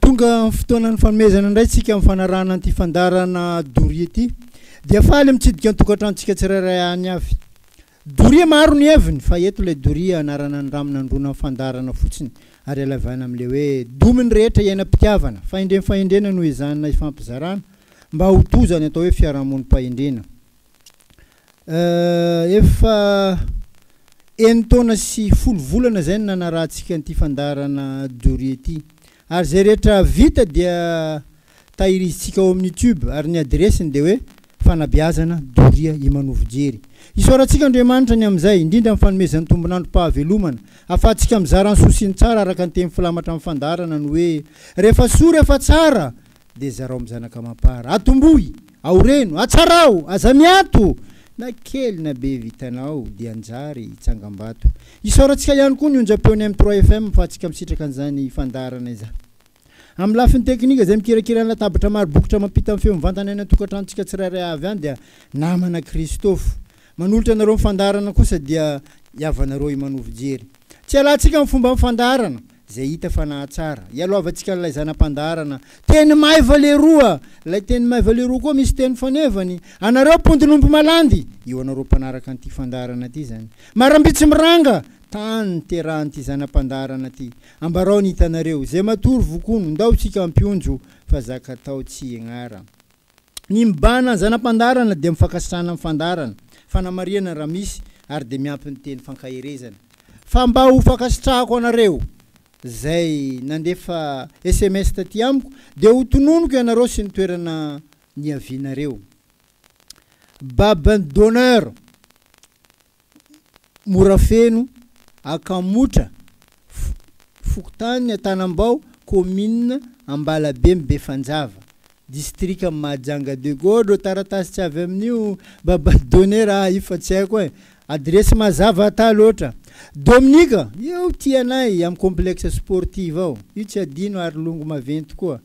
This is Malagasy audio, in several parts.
Tonga amin'ny fotoanan'ny fanomezana indray isika amin'ny fanarahana an'ity fandaharana doria ity. Dia faly mitsidika ny tokantranontsika tsirairay any avy. Doria maro ny heviny fa eto ilay doria anarana ny rano nandroana ny fandaharana fotsiny ary alavaina amin'ilay hoe domin'ny rehetra iainam-pitiavana, fahendrem-fahendrena no ezahina hifampizarana mba ho tojo any atao hoe fiarahamonim-pahendrena. Euh efa enin-taona sy folo volana izay no nanarahantsika an'ity fandaharana Doria ity. Ary izay rehetra vita dia tahirizintsika ao amin'ny YouTube ary ny adiresiny dia hoe Fanabeazana Doria Imanovo Jery. Isaorantsika Andriamanitra ny amin'izay, indrindra amin'ny fanomezan'ny tombon'androm-pahavelomana, ahafahantsika mizara ny soa sy ny tsara araka ny teny filamatra amin'ny fandaharana ny hoe Rehefa soa, rehefa tsara, dia zarao amin'ny zanaka amam-para. Atomboy! Aoreno! Atsarao! Aza miato! Na kely na be vitanao dia anjary hitsangambato. Isaorantsika ihany koa ny onjam-peon'ny M trois FM afahantsika misitraka an'izany fandaharana izany. Amin'ny lafiny teknika izay mikirakira ny latabatra maro bokotra mampita ny feo mivantana any an-tokantranontsika tsirairay avy any dia namana Christophe. Manolotra anareo ny fandaharana kosa dia i havanareo Imanovo Jery. Tsy hialantsika amin'ny fomban'ny fandaharana. izay hita fa nahatsara. Ialoavantsika an'ilay zana-pandaharana, teny maiva leroa! Ilay teny maiva leroa koa misy teny fanevany, anareo mpondin'omby malandy! Io anareo mpanaraka an'ity fandaharana ity izany. Marambitsy miranga! Tany niterahan'ity zana-pandaharana ity. Ambarao ny hitanareo. Izay matory vokono, ndao isika hampionjo, fa zaka atao tsy ignara. Ny mibahana ny zana-pandaharana dia mifankasitrahana amin'ny fandaharana, fanamarihana raha misy, ary dia miampy ny teny fankaherezana fa mba ho fankasitrahako anareo izay nandefa sms taty amiko dia ho tononiko ianareo sy ny toerana niavianareo. Babin d'honneur. Morafeno, Akamotra, fokontany Antanambao, kaominina Ambalabe Befanjava, distrika Mahajanga de Godro, taratasy tsy avy amin'io baba donner aho io fa tsy haiko e! adiresy mazava ata loatra! Dominika, eo tia anay amin'ny complexe sportive ao, io tsy adino ary longo maventy koa.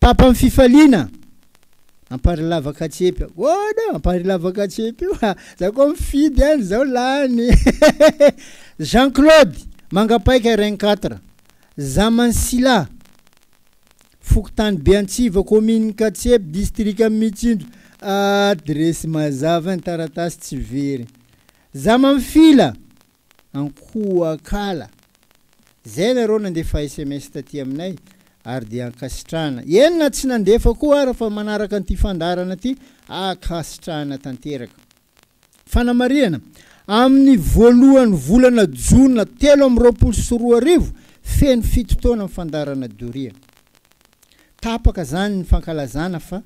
Tapany fifaliana Ampary lava katsepy ahoana ampary lava katsepy io ha za koa mifidy any zao lany Jean Claude Mangapaika Reng quatre Zaman Sila Fokontany Beantsiva Commune Katsepy District Mitsinjo Adresy mazava ny taratasy tsy very Zaman Fila Ankohakala. Zay nareo nandefa sms taty aminay ary dia ankasitrahana. Eny na tsy nandefa koa ara fa manaraka an'ity fandaharana ty ankasitrahana tanteraka. Fanamarihana, amin'ny voalohan'ny volana jona telo amby roapolo sy roa arivo, feno fito taona ny fandaharana doria. Tapaka zany ny fankalazana fa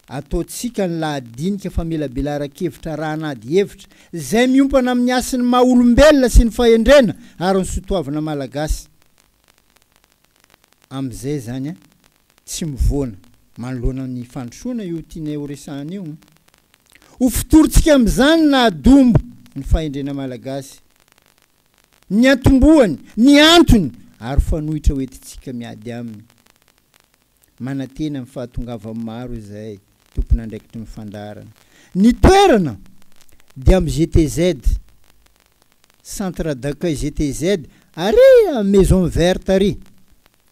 Ataontsika ny lahadinika famelabelaran-kevitra raha-an'ady hevitra izay miompana amin'ny hasin'ny maha-olombelona sy ny fahendrena ary ny soatoavina malagasy. Amin'izay izany a, tsy mivoana manoloana ny fandrosoana io tianay ho resahana io. Ho fotorintsika amin'izany ny naha-dombo ny fahendrena malagasy, ny niantombohany, ny antony ary fanoitra hoentintsika miady aminy. Manantena ny fahatongavan'ny maro izay tompon'andraikitry ny fandaharana. Ny toerana dia amin'ny GTZ, Centre d'accueil GTZ, ary amin'ny Maison Verte ary,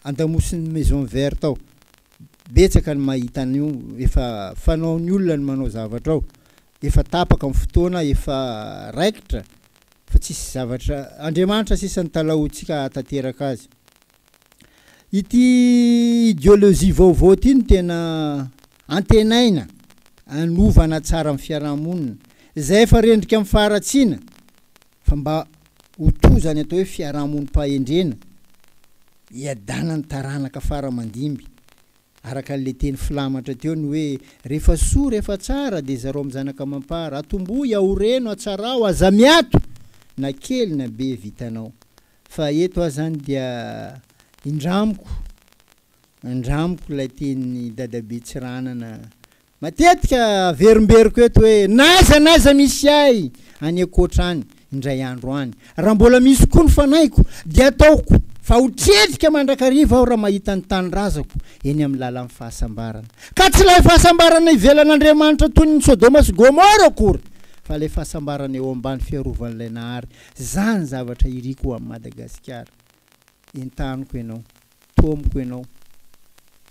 an-damosin'ny Maison Verte ao. Betsaka ny mahita an'io, efa fanaon'ny olona ny manao zavatra ao. Efa tapaka ny fotoana, efa raikitra fa tsisy zavatra, Andriamanitra sisa no talahoantsika hahatanteraka azy. Ity ideologie vaovao ity no tena antenaina hanova hanatsara ny fiaraha-monina, izay efa rendrika amin'ny faharatsiana, fa mba ho toa izany atao hoe fiaraha-monim-pahendrena, hiadanan'ny taranaka fara aman-dimby. Araka an'ilay teny filamatra teo ny hoe, rehefa soa, rehefa tsara, dia zarao amin'ny zanaka amam-para, atombohy, aoreno, atsarao, aza miato, na kely na be, vitanao. Fa eto aho zany dia indramiko indramiko ilay tenin'i Dadabe Tsiranana matetika averimberiko eto hoe n'aiza n'aiza misy ahy any ankoatra any indray andro any raha mbola misy koa ny fanahiko dia ataoko fa ho tredrika mandrakariva aho raha mahita ny tanindrazako eny amin'ny lalan'ny fahasambarana ka tsy ilay fahasambarana ivelan'Andriamanitra toy ny Sodoma sy Gomora akory fa ilay fahasambarana eo ambany fiarovan'ilay Nahary Zah ny zavatra iriko ho an'i Madagasikara. Entaniko ianao, taomiko ianao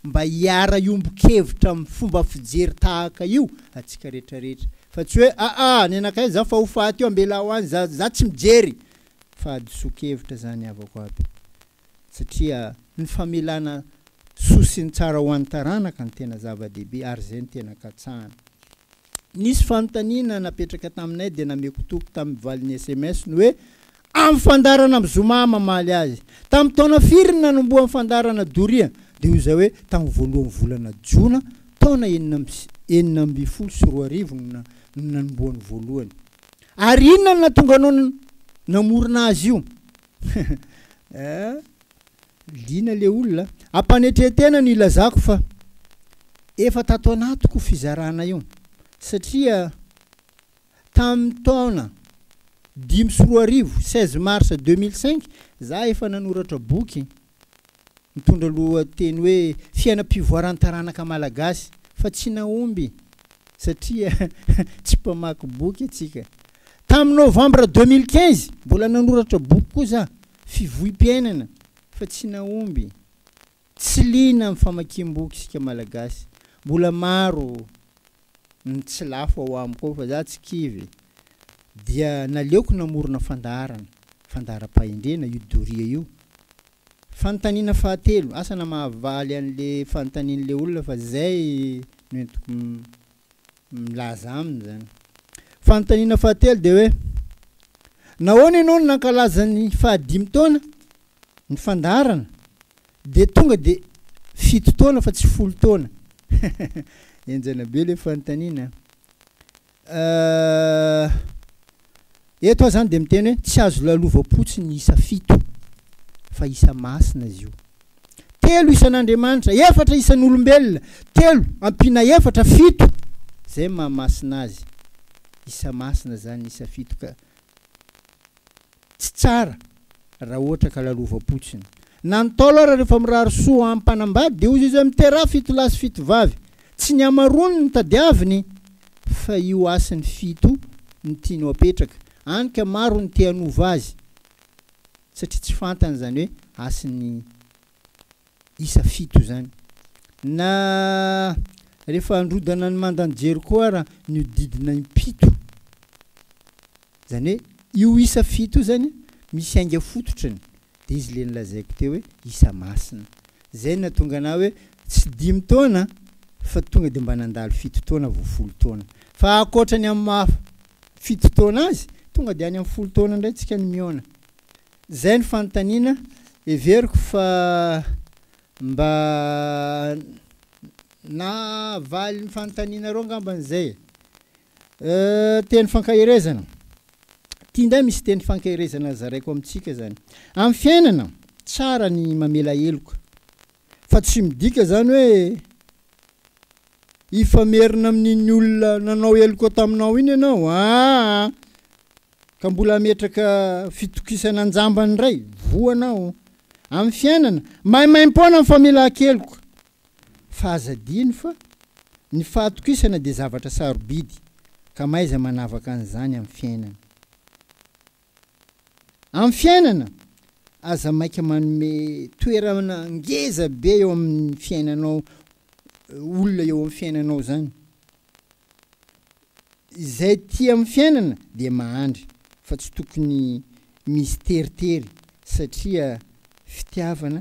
mba hiara hiombon-kevitra amin'ny fomba fijery tahaka io antsika rehetra rehetra fa tsy hoe aa any anakay zah fa ho faty eo ambelaho any zah, zah tsy mijery fa hadisoan-kevitra zany havako aby. satria ny famelana soa sy ny tsara ho an'ny taranaka no tena zava-dehibe ary izay no tena katsahana. Nisy fanontaniana napetraka taminay dia nameko toky tamin'ny valin'ny sms ny hoe amin'ny fandaharana amin'ny zoma aho mamaly azy. Tamin'ny taona firy no nanombohan'ny fandaharana doria? Dia hoy izaho hoe tamin'ny voalohan'ny volana jona taona enina amby enina ambin'ny folo sy roa arivo no no nanombohan'ny voalohany. Ary inona no nahatonga anao namorona azy io? Hum liana le olona a! Ampanetren-tena no ilazako fa efa tato anatiko io fizarana io satria tamin'ny taona dimy sy roa arivo, seize mars deux mille cinq, za efa nanoratra boky. Mitondra lohateny hoe Fiainam-pivoaran'ny taranaka malagasy fa tsy nahomby satria tsy mpamaky boky antsika. Tamin'ny novambra deux mille quinze, mbola nanoratra boky koa za, Fivohi-piainana, fa tsy nahomby. Tsy liana amin'ny famakiam-boky isika Malagasy. Mbola maro ny tsy lafo ao amiko ao fa za tsy kivy dia naleoko namorona fandaharana, fandaharam-pahendrena io doria io. Fanontaniana fahatelo, asa na mahavaly an'le fanontanian'le olona fa zay no entiko milaza aminy zany. Fanontaniana fahatelo dia hoe nahoana ianao no nankalaza ny fahadimy taona ny fandaharana Dia tonga dia fito taona fa tsy folo taona. Henjana be ilay fanontaniana an. Euh, eto aho izany dia miteny hoe tsy azo lalovam-potsiny ny isa fito, fa isa masina izy io. Telo isan'Andriamanitra, efatra isan'olombelona, telo ampiana efatra, fito. Izay mahamasina azy. Isa masina izany isa fito ka. Tsy tsara raha ohatra ka lalovam-potsiny. Na ny Ntaolo ara rehefa mirary soa ho an'ny mpanambady dia hozy izay miteraha fito lahy sy fito vavy. Tsy ny hamaroany no tadiaviny fa io hasiny fito no tiany ho apetraka. Any ka maro ny te hanova azy satria tsy fantany izany hoe hasin'ny isa fito izany. Na rehefa androdana ny mandan'i Jeriko ara nihodidina impito. Izany hoe io isa fito io zany misy ainga fototrany dia izy le nolazaiko teo hoe isa masina. Izay natonga anah hoe tsy dimy taona fa tonga dia mba nandalo fito taona vao folo taona. Fa ankoatra ny amin'ny maha fito taona azy tonga dia any amin'ny folo taona indray tsika ny mihaona. Zay ny fanontaniana, heveriko fa mba nahavaly ny fanontanianareo angambany zay e! Teny fankaherezana, ty ndray misy teny fankaherezana zaraiko amintsika zany, amin'ny fiainana, tsara ny mamela heloka, Fa tsy midika izany hoe hifamerina amin'iny olona nanao heloka taminao iny ianao aa ka mbola hametraka fitokisana an-jambany indray, voa anao amin'ny fiainana, maimaim-poana ny famelan-keloka. Fa aza adino fa ny fahatokisana dia zavatra sarobidy ka mahaiza manavaka an'izany amin'ny fiainana. Amin'ny fiainana, aza maika manome toerana ngeza be eo amin'ny fiainanao olona eo amin'ny fiainanao izany. Izay tia amin'ny fiainana dia mahandry fa tsy tokony misy teritery satria fitiavana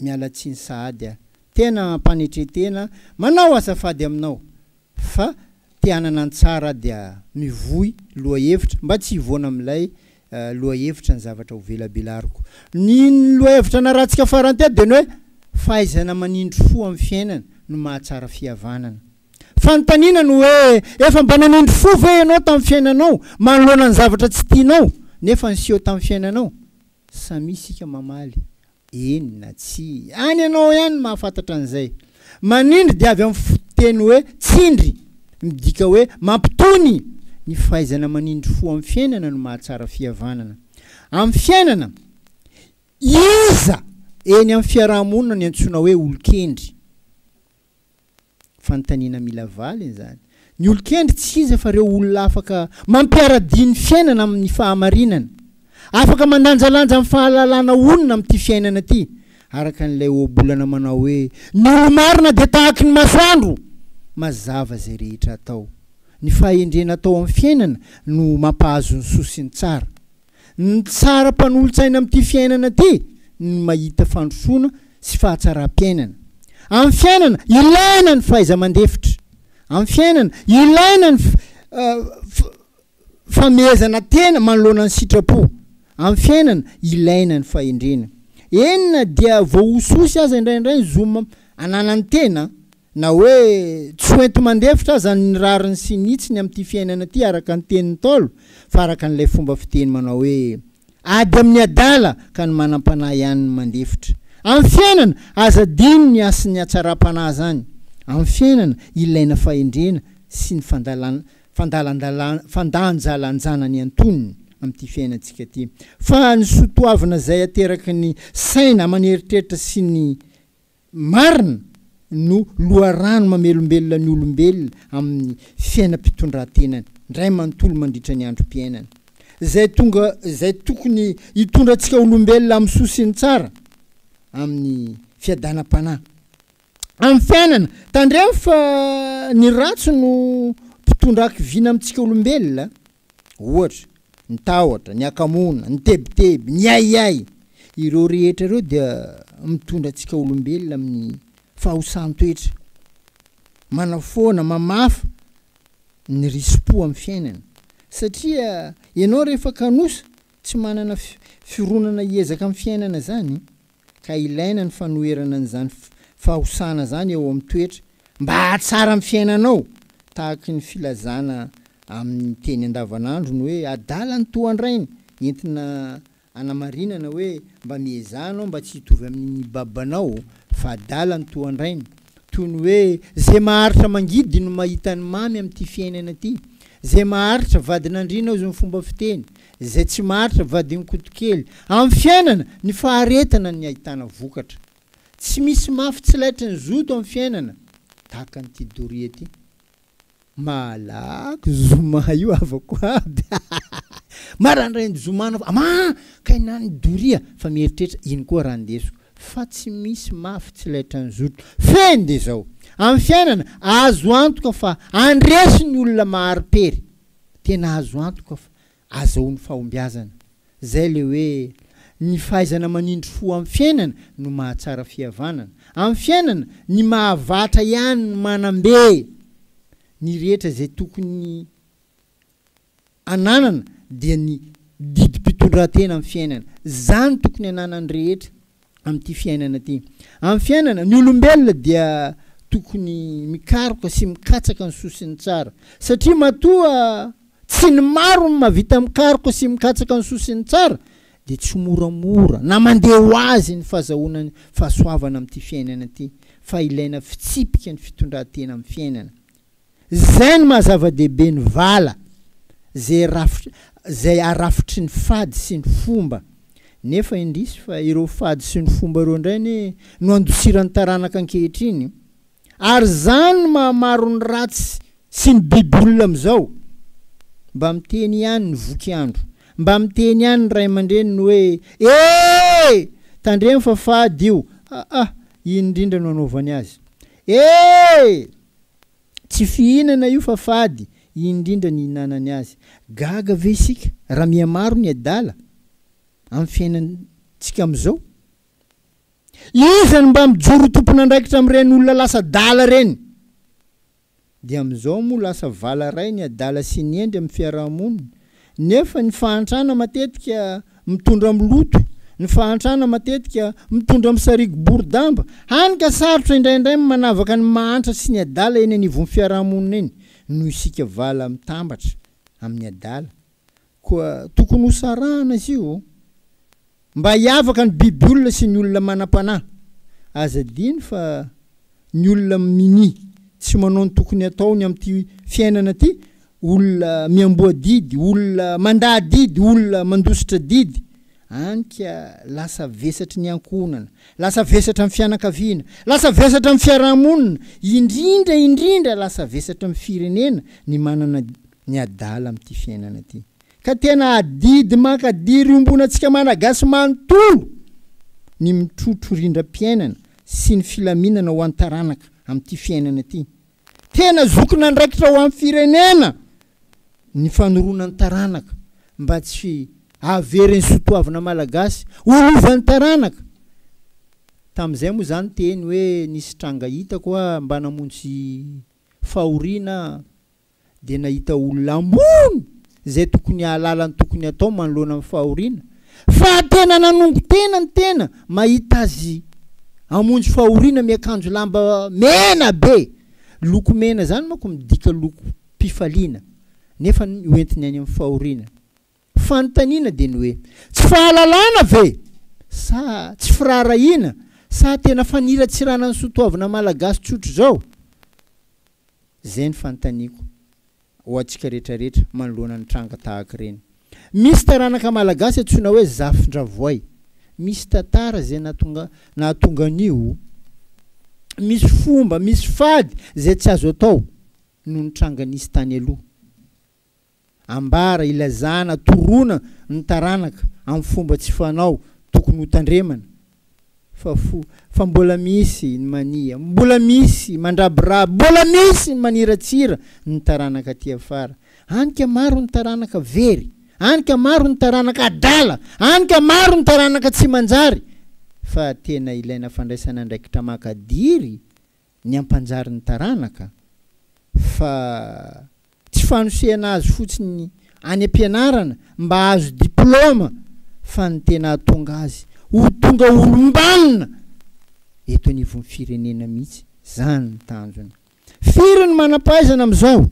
Miala tsiny sahady a! Tena ampanetretena manao azafady aminao fa te hanana ny tsara aho dia mivoy lohahevitra mba tsy hivoana amin'ilay lohahevitra ny zavatra ho velabelariko. Ny lohahevitra naratsika farany teto dia ny hoe fahaizana manindry fo amin'ny fiainana no mahatsara fihavanana. Fanontaniana no hoe efa mba nanindry fo ve ianao tamin'ny fiainanao manoloana ny zavatra tsy tianao nefa niseho tamin'ny fiainanao? Samia isika mamaly Eny na tsia. Any ianao ihany no mahafantatra an'izay. Manindry dia avy amin'ny fototeny hoe tsindry, midika hoe mampitony. Ny fahaizana manindry fo amin'ny fiainana no mahatsara fihavanana. Amin'ny fiainana, iza eny amin'ny fiaraha-monina no iantsoana hoe olon-kendry? Fanontaniana mila valiny izany. Ny olon-kendry tsy iza fa ireo olona afaka mampiara-dia ny fiainana amin'ny fahamarinana, afaka mandanjalanja amin'ny fahalalana honina amin'ity fiainana ity, araka an'ilay ohabolana manao hoe, Ny olo-marina dia tahaky ny masoandro, mazava izay rehetra atao. Ny fahendrena atao amin'ny fiainana no mampahazo ny soa sy ny tsara. Ny tsara mpanolotsaina amin'ity fiainana ity ny mahita fandrosoana sy fahatsaram-piainana. Amin'ny fiainana, ilaina ny fahaiza-mandefitra. Amin'ny fiainana, ilaina ny famehezana tena manoloana ny sitrapo. Amin'ny fiainana, ilaina ny fahendrena. Eny na dia voahososy aza indraindray ny zo ananan'ny tena, Na hoe tsy ho enti-mandefitra aza ny rariny sy ny hitsiny amin'ity fiainana ity araka ny tenin'ny Ntaolo fa araka an'ilay fomba fiteny manao hoe ady amin'ny adala ka ny manam-panahy ihany no mandefitra. Amin'ny fiainana, aza adino ny hasin'ny hatsaram-panahy izany. Amin'ny fiainana, ilaina fahendrena sy ny fandalan, fandalandala, fandanjalanjana ny antonony amin'ity fiainantsika ity. Fa ny soa toavina izay ateraky ny saina aman'eritreritra sy ny. Marina no loharano mamelombelona ny olombelona amin'ny fiainam-pitondran-tenany indray manontolo mandritra ny androm-piainany, izay tonga izay tokony hitondra antsika olombelona amin'ny soa sy ny tsara, amin'ny fiadanam-panahy. Amin'ny fiainana, tandremo fa ny ratsy no mpitondra hakiviana amintsika olombelona. ohatra, ny tahotra, ny hakamoana, ny tebiteby, ny ahiahy, ireo rehetra ireo dia mitondra antsika olombelona amin'ny fahosan-toetra, manafoana, mamafa ny risi-po amin'ny fiainana. Satria ianao rehefa kanosa, tsy manana fironana hiezaka amin'ny fiainana izany, ka ilaina ny fanoherana an'izany fahosana izany eo amin'ny toetra mba hahatsara ny fiainanao, tahaky ny filazana amin'ny teny andavanandro ny hoe adala ny toa an-drainy, entina anamarinana hoe mba miezaha anao mba tsy hitovy amin'iny babanao fa adala ny toa an-drainy, toy ny hoe izay maharitra mangidy no mahita ny mamy amin'ity fiainana ity, izay maharitra vadin'andriana hozy ny fomba fiteny, Izay tsy maharitra vadin-kotokely. Amin'ny fiainana, ny faharetana ny ahitana vokatra. Tsy misy mafy tsy laitry ny zoto amin'ny fiainana, tahaka an'ity doria ity. Malaky zoma io havako aby. Marandraigny zoma anao fa ma ka hinan'ny doria fa mieritreritra ino koa raha ndesiko. Fa tsy misy mafy tsy laitry ny zoto. Fehiny dia izao. Amin'ny fiainana, azo antoka fa handresy ny olona mahari-pery. Tena azo antoka fa. Azahoa ny fahombiazana. Zay le hoe ny fahaizana manindry fo amin'ny fiainana no mahatsara fihavanana. Amin'ny fiainana, ny mahavatra ihany no manambe ny rehetra izay tokony ananana dia ny didim-pitondran-tena amin'ny fiainana. Zany tokony ananan'ny rehetra. amin'ity fiainana ity. Amin'ny fiainana, ny olombelona dia tokony mikaroka sy mikatsaka ny soa sy ny tsara. Satria matoa tsy ny maro no mahavita mikaroka sy mikatsaka ny soa sy ny tsara, dia tsy moramora na mandeha ho azy ny fahazahoana ny fahasoavana amin'ity fiainana ity, fa ilaina fitsipika ny fitondran-tena amin'ny fiainana. Zay no maha zava-dehibe ny vala, zay rafitry zay arafitry ny fady sy ny fomba. Nefa indrisy fa ireo fady sy ny fomba ireo indray anie no andosiran'ny taranaka ankehitriny. Ary zany no maha maro ny ratsy sy ny biby olona amizao. Mba miteny ihany ny voky andro, mba miteny ihany ny ray aman-dreniny hoe ee! tandremo fa fady io, aa! iny indrindra no anaovany azy. Ee! Tsy fihinana io fa fady indrindra ny ihinanany azy. Gaga ve isika raha mihamaro ny adala amin'ny fiainantsika amin'izao? Iza no mba mijoro ho tompon'andraikitra amin'ireny olona lasa adala ireny? Dia amin'izao moa lasa vala iray ny adala sy ny hendry amin'ny fiaraha-monina nefa ny fahantrana matetika mitondra amin'ny loto, ny fahantrana matetika mitondra amin'ny sarigo bory damba, hany ka sarotra indraindray ny manavaka ny mahantra sy ny adala eny anivon'ny fiarahamonina eny noho isika vala mitambatra amin'ny adala koa tokony hosarahana izy io. Mba hiavaka ny biby olona sy ny olona manam-panahy. Aza adino fa ny olona minia tsy manao ny tokony hataony amin'ity fiainana ity, olona miamboha didy, olona mandà didy, olona mandositra didy, any ka lasa vesatry ny ankohonana, lasa vesatra amin'ny fianakaviana, lasa vesatra amin'ny fiaraha-monina, indrindra indrindra lasa vesatra amin'ny firenena ny manana ny adala amin'ity fiainana ity ka tena adidy maka diry iombonantsika Malagasy manontolo ny mitrotro rindram-piainana sy ny filaminana ho an'ny taranaka amin'ity fiainana ity. Tena zokin'andraikitra ho an'ny firenena ny fanoroana ny taranaka mba tsy haverin'ny sotoavina Malagasy ho lovan'ny taranaka. Tamin'izay moa izany teny hoe nisy tranga hitako hoa mba namonjy Fahoriana aho dia nahita olona ambony izay tokony hahalala ny tokony hatao manoloana ny fahoriana fa tena nanongo tena ny tena mahita azy hamonjy fahoriana miakanjo lamba mena be, loko mena izany manko midika lokom-pifaliana nefa hoentiny any amin'ny fahoriana. Fanontaniana dia ny hoe, tsy fahalalana ve? Sa tsy firaharahiana? Sa tena faniratsirana ny soatoavina malagasy tsotra izao? Izay ny fanontaniako ho antsika rehetrarehetra manoloana ny tranga tahaka ireny. Misy taranaka malagasy antsoina hoe Zafindravoay. Misy tantara izay nahatonga nahatonga an'io. Misy fomba, misy fady izay tsy azo atao noho ny tranga nisy tany aloha. ambara, ilazana, toroana ny taranaka amin'ny fomba tsy fanao tokony ho tandremana fa fo fa mbola misy ny mania, mbola misy mandrabiraby, mbola misy ny maniratsira ny taranaka aty afara. Any ka maro ny taranaka very, any ka maro ny taranaka adala, any ka maro ny taranaka tsy manjary fa tena ilaina fandraisana andraikitra maka diry ny hampanjary ny taranaka fa tsy fanosehana azy fotsiny any am-pianarana mba hahazo diplaoma fa ny tena hahatonga azy ho tonga olom-banona eto anivon'ny firenena mihitsy, izany ny tanjona. Firy ny manam-pahaizana amin'izao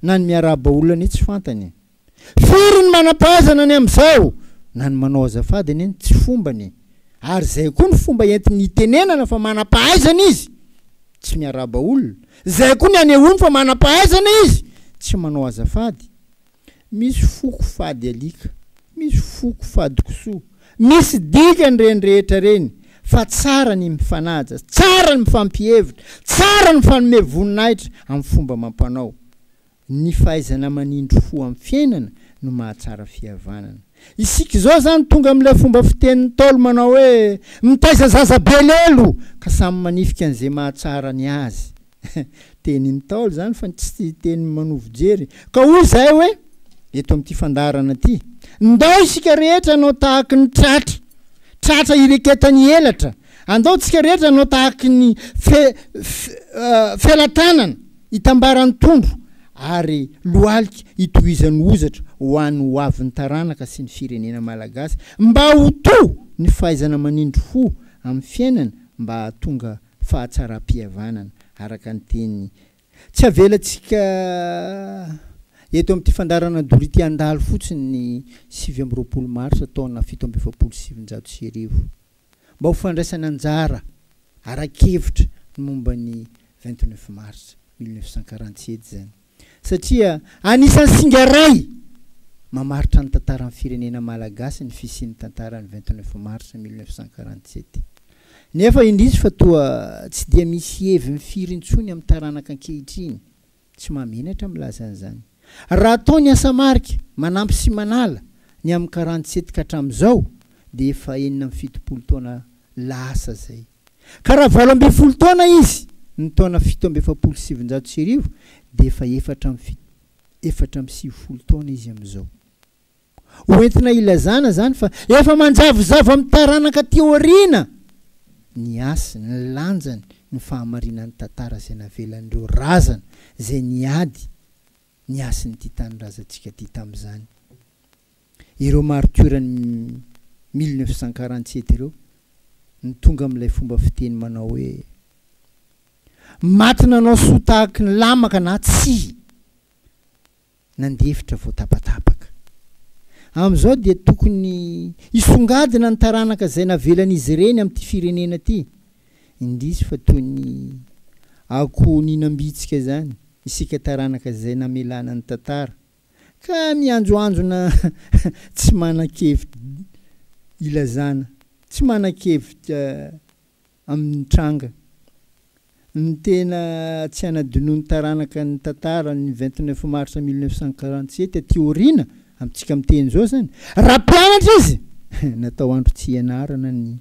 na ny miarahaba olona anie tsy fantany e! Firy ny manam-pahaizana ny amin'izao na ny manao azafady anie no tsy fombany e! ary izay koa ny fomba entiny hitenenana fa manam-pahaizana izy tsy miarahaba olona, izay koa ny anehoany fa manam-pahaizana izy tsy manao azafady. Misy foko fady alika, misy foko fady kisoa, misy dikany ireny rehetra ireny fa tsara ny mifanaja, tsara ny mifampihevitra, tsara ny mifanome voninahitra amin'ny fomba amam-panao. Ny fahaizana manindry fo amin'ny fiainana no mahatsara fihavanana. Isika izao izany tonga amin'ilay fomba fitenin'ny Ntaolo manao hoe, mitaiza zaza be lelo ka samy manifika an'izay mahatsara ny azy. Tenin'ny Ntaolo izany fa tsy teny manovo jery. Ka hoy izahay hoe, eto amin'ity fandaharana ity, Ndao isika rehetra hanao tahaky ny tratra, tratra ireketan'ny elatra. Andao tsika rehetra hanao tahaky ny fe, fe, felatanana. Itambaran'ny tondro ary lohalika itohizan'ny hozatra ho an'ny ho avin'ny taranaka sy ny firenena malagasy mba ho to ny fahaizana manindry fo amin'ny fiainana mba hahatonga fahatsaram-pihavanana araka ny teny Tsy avelantsika eto amin'ity fandaharana doria ity handalo fotsiny ny sivy amby roapolo marsa taona fito amby efapolo sy sivinjato sy arivo. mba ho fandraisana anjara ara-kevitra ny momba ny vingt neuf mars mille neuf cent quarante sept izany satria anisan'ny singa iray mamaritra ny tantaran'ny firenena malagasy ny fisian'ny tantaran'ny vingt neuf mars mille neuf cent quarante sept nefa indrisy fa toa tsy dia misy heviny firy intsony amin'ny taranaka ankehitriny Tsy mahamenatra milaza an'izany. Raha atao ny asa marika, manampy sy manala, ny amin'ny karany tsetika hatramin'izao dia efa enina amby fitopolo taona lasa izay. Ka raha valo ambin'ny folo taona izy ny taona fito amby efapolo sy sivinjato sy arivo dia efa efatra amby efatra amby sivifolo taona izy amin'izao. Ho entina ilazana izany fa efa manjavozavo amin'ny taranaka aty aoriana ny hasiny, ny lanjany, ny fahamarinan'ny tantara izay navelan'ireo razana izay niady ny hasin'ity tanindrazantsika ity tamin'izany. Ireo maritiora-n'ny mille neuf cent quarante sept ireo no tonga amin'ilay fomba fiteny manao hoe Maty nanao soa tahaky ny lamaka na tsia. nandefitra vao tapatapaka. Amin'izao dia tokony hisongadina ny taranaka izay navelan'izy ireny amin'ity firenena ity, indrisy fa toy ny akoho nihinam-bitsika izany isika taranaka izay namelana ny tantara ka mianjoanjona tsy manan-kevitra ilazana, tsy manan-kevitra amin'ny tranga. Ny tena tsy hanadinoan'ny taranaka ny tantara ny vingt neuf mars mille neuf cent quarante sept aty aoriana, amintsika miteny izao izany, raha mpianatra izy, natao andro tsy hianarana ny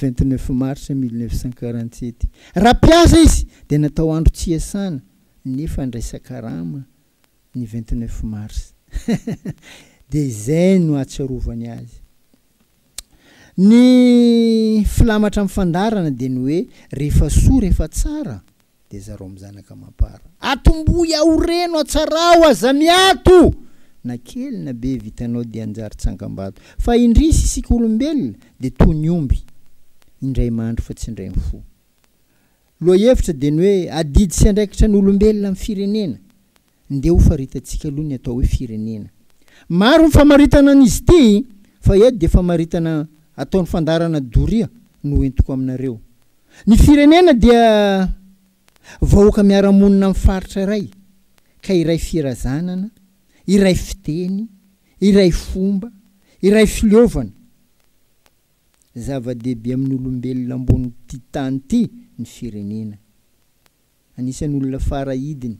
vingt neuf mars mille neuf cent quarante sept, raha mpiasa izy dia natao andro tsy hiasana nefa handraisan-karama ny vingt neuf mars. Dia izay no ahatsiarovany azy. Ny filamatra amin'ny fandaharana dia ny hoe, rehefa soa, rehefa tsara, dia zarao amin'ny zanaka amam-para. Atombohy aho reno, atsarao, aza miato! Na kely na be vitanao dia hanjary tsangambato. Fa indrisy, isika olombelona dia toa ny omby, indray mandry fa tsy indray mifoha. Lohahevitra dia ny hoe, adidy sy andraikitra ny olombelona amin'ny firenena. Ndeha ho faritantsika aloha ny atao hoe firenena. Maro ny famaritana an'izy ity fa eto dia famaritana ataon'ny fandaharana doria no hoentiko aminareo. Ny firenena dia vahoaka miara-monina amin'ny faritra iray ka iray firazanana, iray fiteny, iray fomba, iray fileovana. Zava-dehibe amin'ny olombelona ambonin'ity tany ity ny firenena. Anisan'ny olona fara idiny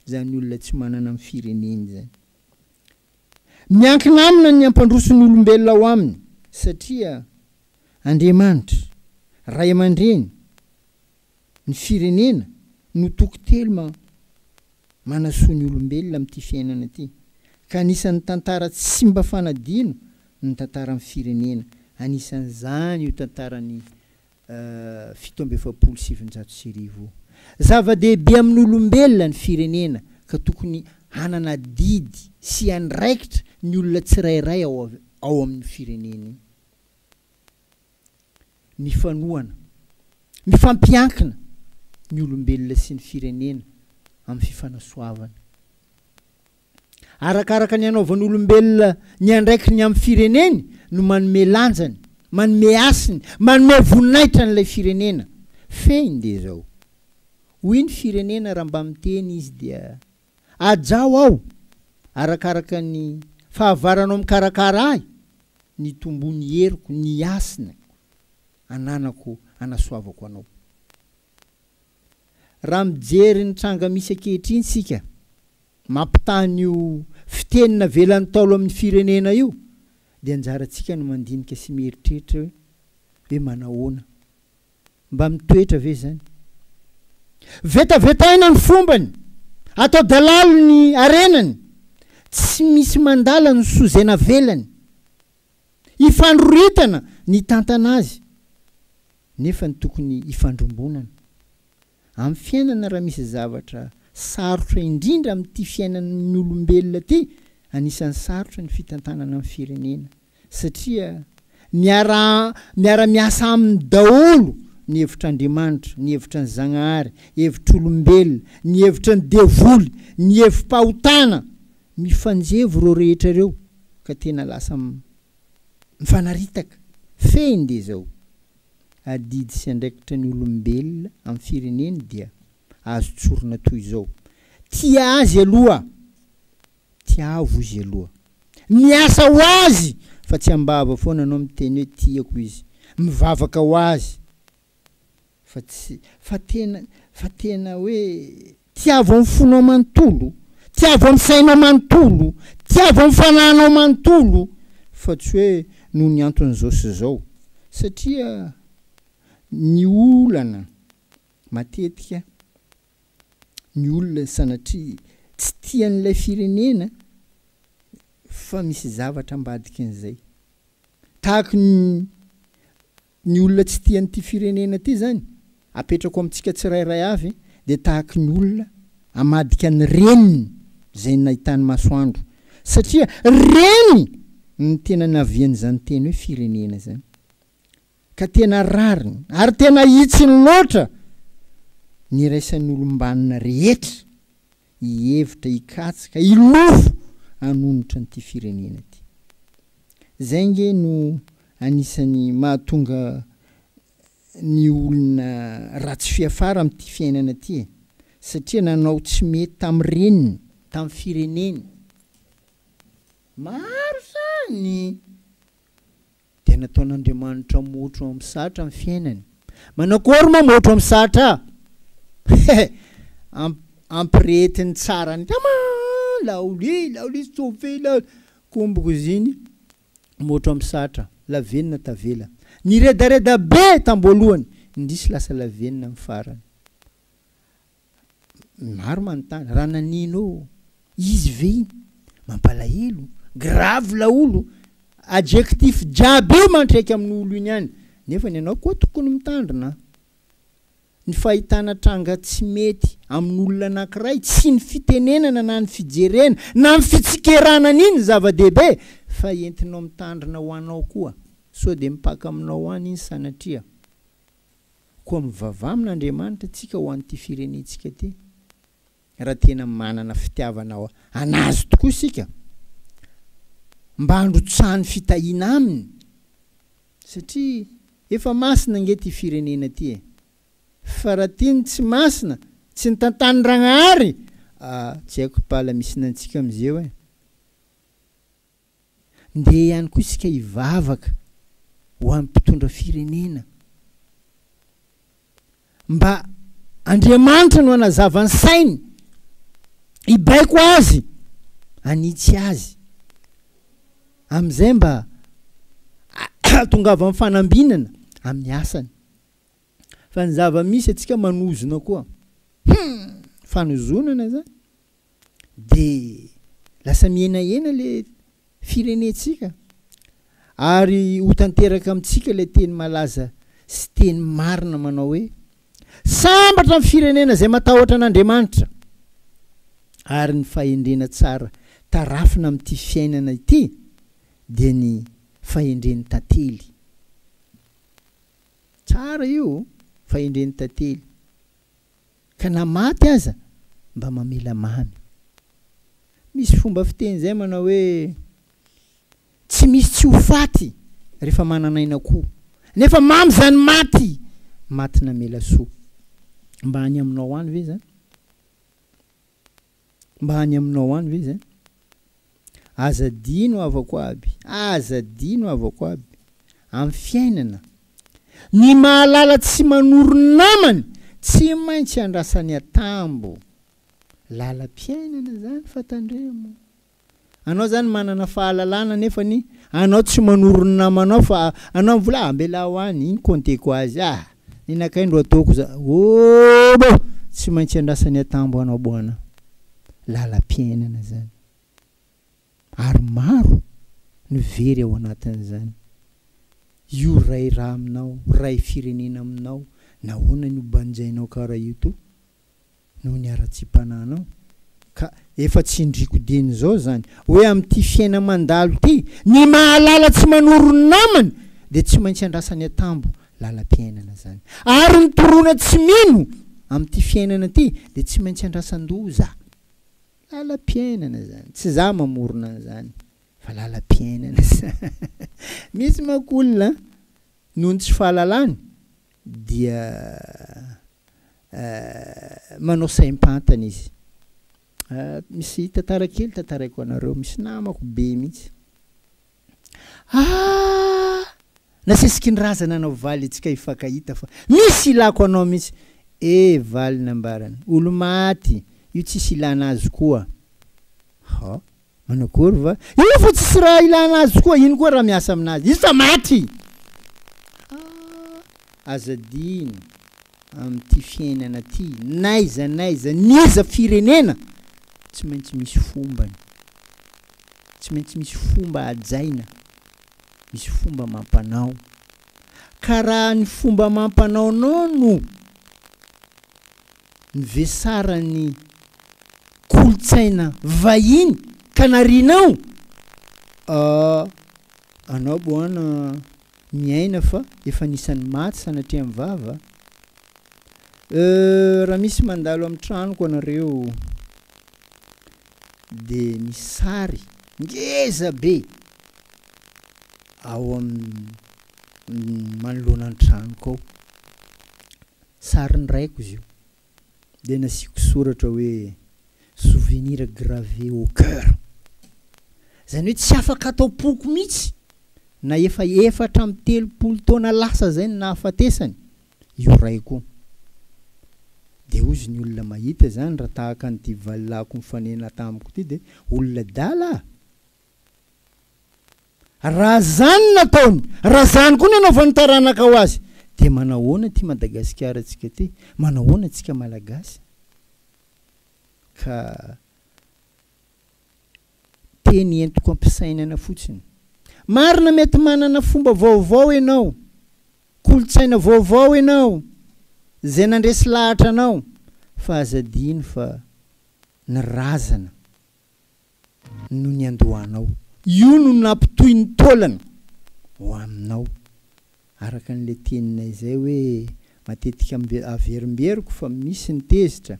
izany olona tsy manana amin'ny fireneny izany. Miankina aminy ny hampandroso ny olombelona ao aminy satria Andriamanitra, Ray aman-dReny, ny firenena no toky telo ma manasoa ny olombelona amin'ity fiainana ity ka anisan'ny tantara tsy simba fanadino ny tantaran'ny firenena, anisan'izany io tantaran'i fito amby efapolo sy sivinjato sy arivo. Zava-dehibe amin'ny olombelona ny firenena ka tokony hanana adidy sy andraikitra ny olona tsirairay ao ao amin'io firenena io. Mifanohana, mifampiankina ny olombelona sy ny firenena amin'ny fifanasoavana. arakaraka ny anaovan'olombelona ny andraikiny amin'ny fireneny no manome lanjany, manome hasiny, manome voninahitra an'ilay firenena. Fehiny dia izao. Hoy ny firenena raha mba miteny izy dia, Ajaho aho arakaraka ny fahavaranao mikarakara ahy, ny tombony heriko, ny hasiny ananako anasoavako anao. Raha mijery ny tranga misy ankehitriny isika, mampitaha an'io fiteny navelan'ny Ntaolo amin'ny firenena io, dia anjarantsika ny mandinika sy mieritreritra hoe, hoe manahoana? Mba mitoetra ve izany? Vetavetaina ny fombany, atao dalalo ny harenany, tsy misy mandala ny soa izay navelany, ifandroritana ny hitantana azy. nefa ny tokony hifandrombonana amin'ny fiainana raha misy zavatra sarotra indrindra amin'ity fiainan'ny olombelona ity, anisan'ny sarotra ny fitantanana ny firenena satria miara miara-miasa aminy daholo ny hevitr'Andriamanitra, ny hevitra ny Zagnahary, hevitr'olombelona, ny hevitra ny devoly, ny hevi-pahotana, mifanjevo ireo rehetra ireo ka tena lasa mifanaritaka, fehiny dia izao, Adidy sy andraikitra ny olombelona amin'ny fireneny dia azo tsorina toy izao, Tia azy aloha, tiavo izy aloha. Miasa ho azy fa tsy am-bava foana anao miteny hoe tiako izy, mivavaka ho azy, fa tsy fa tena fa tena hoe tiavo amin'ny fonao manontolo, tiavo amin'ny sainao manontolo, tiavo amin'ny fanahinao manontolo fa tsy hoe noho ny anton'izao sy izao satria ny olana matetika ny olona sanatria tsy tia an'ilay firenena fa misy zavatra ambadikin'izay tahaka ny Ny olona tsy tia an'ity firenena ity izany apetrako amintsika tsirairay avy dia tahaky ny olona amadika ny reniny izay nahitany masoandro satria reny ny tena navian'izany teny hoe firenena izany ka tena rariny ary tena hitsiny loatra ny iraisan'olombanona rehetra hihevitra hikatsy ka hilofo hanonitra an'ity firenena ity. Izay ange no anisan'ny mahatonga ny olona ratsy fiafara amin'ity fiainana ity e! satria nanao tsy mety tamin'ny reniny, tamin'ny fireneny, maro izany Dia nataon'Andriamanitra motro amin'ny satra ny fiainany. Manakory moa motro amin'ny satra? Hehe! Ampirehetiny tsara ny kama! Laoly, laoly, tsofy, laoly! Kombokoziny, motro amin'ny satra, lavenona tavela. Niredareda be tamboalohany, indrisy lasa lavenona amin'ny farany. Ny maro manontany, raha nanino ô? Izy ve iny? Mampalahelo, grave laolo, adjectif jiaby io mantraika amin'ny olo iny any, nefa ny anao koa tokony mitandrina a! Ny fahitana tranga tsy mety amin'ny olona anankiray, tsy ny fitenenana na ny fijerena na ny fitsikerana an'iny ny zava-dehibe fa entinao mitandrina ho anao koa, sao dia mipaka aminao any iny sanatria. Koa mivavaha amin' Andriamanitra isika ho an'ity firenentsika ity, raha tena manana fitiavana an'Azy tokoa isika, mba handrotsahany fitahiana Aminy, satria efa masina ange ity firenena ity e! Fa raha ity no tsy masina, tsy ny tantan'i Ragnahary, ah, tsy haiko pala misy ny antsika amizeo e! Ndeha ihany koa isika hivavaka ho an'ny mpitondra firenena mba Andriamanitra no hanazava ny sainy, hibaiko azy, hanitsy azy. Amin'izay mba hahatongavan'ny fanambinana amin'ny asany. Fa ny zava-misy antsika manozona koa. Hum! Fanozonana izany. de lasa mihenahena le firenentsika ary ho tanteraka amintsika ilay teny malaza sy teny marina manao hoe sambatra ny firenena izay matahotra an'Andriamanitra ary ny fahendrena tsara tarafina amin'ity fiainana ity dia ny fahendren'ny tantely tsara io fahendren'ny tantely Ka na maty aza mba mamela mamy. Misy fomba fiteny izay manao hoe tsy misy tsy ho faty rehefa manan'aina koa. Nefa mamy izany maty, maty namela soa. Mba any aminao any ve izany? Mba any aminao any ve izay? Aza adino havako aby, aza adino havako aby, amin'ny fiainana, ny mahalala tsy manoro namany tsy maintsy andrasany atambo. Lalam-piainana izany fa tandremo. Anao zany manana fahalalana nefany anao tsy manoro ny namanao fa anao mivola ah ambelaho any iny compte ko azy ah iny akay ndro ataoko za obo tsy maintsy andrasany atambo anao boana lalam-piainana zany ary maro no very ao anatin'izany io ray ra aminao ray firenena aminao nahoana ny ho banjainao karaha io to noho ny haratsiam-panahinao ka efa tsindriako dieny izao izany hoe amin'ity fiaina mandalo ity ny mahalala tsy manoro ny namany dia tsy maintsy andrasany an-tambo lalam-piainana izany ary ny torona tsy mino amin'ity fiainana ity dia tsy maintsy andrasan-doza lalam-piainana izany tsy za mamorona an'izany fa lalam-piainana izany misy manko olona noho ny tsy fahalalany dia manao saim-pantany izy. Misy tantara kely tantaraiko anareo, misy namako be mihitsy. Ah! Nasesiky ny razana anao Valy antsika hifankahita fa misy ilako anao mihitsy. Eh Valy nambarany, olo-maty, io tsisy ilana azy koa. Ha! Manao kôry va? Io fa tsisy raha ilana azy koa, ino koa raha miasa aminazy? Izy fa maty! Ah, aza adino amin'ity fiainana ity, n'aiza n'aiza, n'iza firenena, tsy maintsy misy fombany. Tsy maintsy misy fomba hajaina, misy fomba amam-panao. Ka raha ny fomba amam-panaonao no ny vesaran'ny kolontsaina vahiny kanarianao ah anao boana miaina fa efa anisan'ny maty sanatria amin'ny vava euh raha misy mandalo amin'ny tranoko anareo de ny sary ngeza be ao amin'ny manoloana ny tranoko ao Sarin'ny raiko izy io dia nasiako soratra hoe souvenir gravé au coeur. Izany hoe tsy afaka ato am-poko mihitsy na efa efatra amby telopolo taona lasa izay no nahafatesany io raiko io. Dia hozy ny olona mahita izany raha tahaka an'ity valilahiko nifanena tamiko ity dia olona adala a! Raha zany nataony, raha zany koa ny anaovan'ny taranakao azy, dia manahoana ity Madagasikara tsika ty? Manahoana tsika Malagasy? Ka teny entiko ampisainana fotsiny. Marina mety manana fomba vaovao enao, kolotsaina vaovao enao, zay nandresy lahatra anao, fa aza adino fa ny razana, no niandohanao. Io no nampitohy ny taolany ho aminao. Araka an'ilay teninay izay hoe matetika averimberiko fa misy ny tezitra.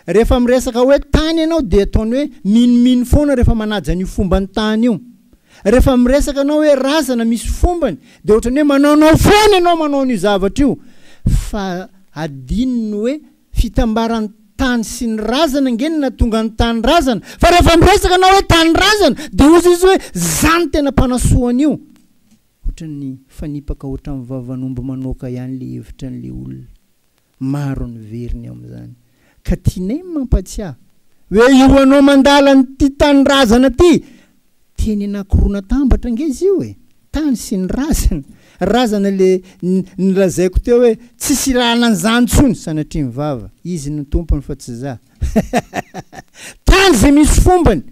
Rehefa miresaka hoe tany ianao dia ataony hoe minomino foana rehefa manaja an'io fomban'ny tany io. Rehefa miresaka anao hoe razana misy fombany dia ohatran'ny hoe manaonao foana ianao manao an'io zavatra io fa adinony hoe Fitambaran'ny tany sy ny razana ange no nahatonga ny tanindrazana. Fa rehefa miresaka anao hoe tanindrazana dia hozy izy hoe za no tena mpanasoa an'io. Ohatran'ny fanipaka ohatran'ny vavan'omby manoaka ihany le hevitran'le olona. Maro ny very ny amin'izany. Ka tianay ny mampatsiahy hoe io anao mandala an'ity tanindrazana ty Teny Ankoronantambatra ange izy io e! Tany sy ny razana. Razana le nolazaiko teo hoe tsy hisy lalana an'izany intsony, sanatria ny vava. Izy no tompony fa tsy za. Tany izay misy fombany.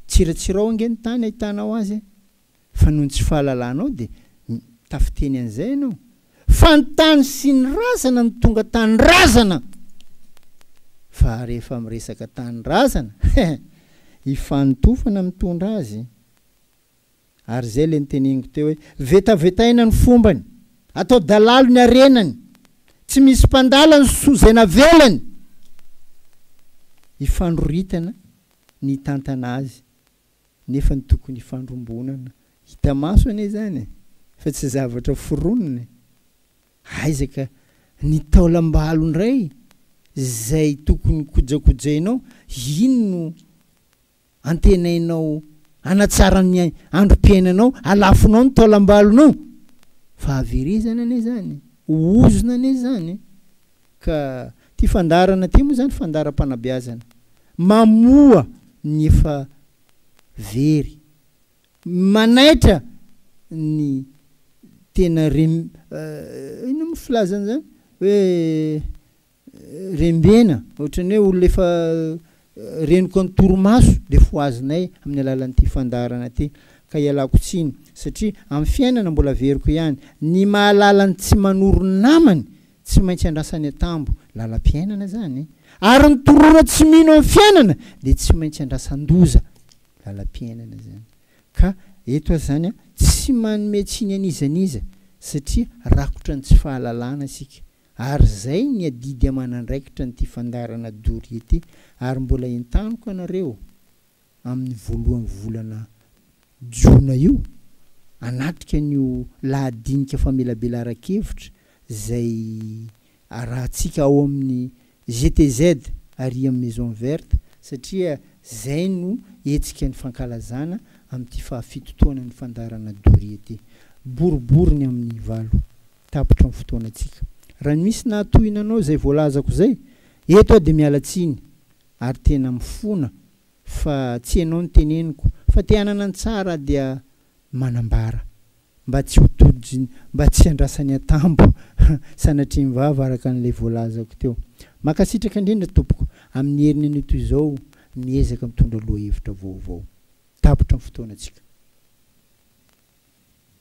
Tsiratsirao ange ny tany ahitanao azy e! Fa noho ny tsy fahalalanao dia tafiteny an'izay ianao. Fa ny tany sy ny razana no tonga tanindrazana fa rehefa miresaka tanindrazana he ifanotofana mitondra azy ary zay le niteneniko teo hoe vetavetaina ny fombany atao dalalo ny arenany tsy misy mpandala ny soa zay navelany ifandroritana ny hitantana azy nefa ny tokony hifandrombonana hita maso anie izany e! fa tsy zavatra foronina e! aiza ka ny taolam-balo indray izay tokony kojakojainao iny no antenainao hanatsara ny androm-piainanao alafonao ny taolam-balonao! fahaverezana anie izany e! ozona anie izany e! Ka ty fandaharana ty moa zany fandaharam-panabeazana mamoha ny efa very, manaitra ny tena rem inona moa filazana zany hoe rembena, ohatran'ny hoe olona efa Reniko ny torimaso dia fohazinay amin'ny alalan'ity fandaharana ity ka ialako tsiny satria amin'ny fiainana mbola averiko ihany ny mahalala ny tsy manoro namany tsy maintsy andrasany an-tambo lalam-piainana izany ary ny torora tsy mino amin'ny fiainana dia tsy maintsy andrasan-doza lalam-piainana izany ka eto aza izany an tsy manome tsiny an'iza n'iza satria rakotra ny tsy fahalalana isika Ary izay ny adidy aman'andraikitra an'ity fandaharana doria ity ary mbola entaniko anareo amin'ny voalohan'ny volana jiona io hanatrika an'io lahadinika famelabelaran-kevitra izay arahantsika ao amin'ny GTZ ary amin'ny Maison Verte satria izay no hetsika nifankalazana amin'ity fahafito taonan'ny fandaharana Doria ity. Boribory ny amin'ny valo tapitra ny fotoanantsika. Raha ny misy nahatohina anao izay voalazako izay, eto aho dia miala tsiny ary tena mifona fa tsy ianao no teneniko fa te hanana ny tsara dia manambara mba tsy ho dodoj mba tsy handrasany antambo sanatrian'ny vava araka an'ilay voalazako teo. Mankasitraka indrindra tompoko amin'ny heriny anio toy izao miezaka mitondra lohahevitra vaovao. Tapitra ny fotoanantsika.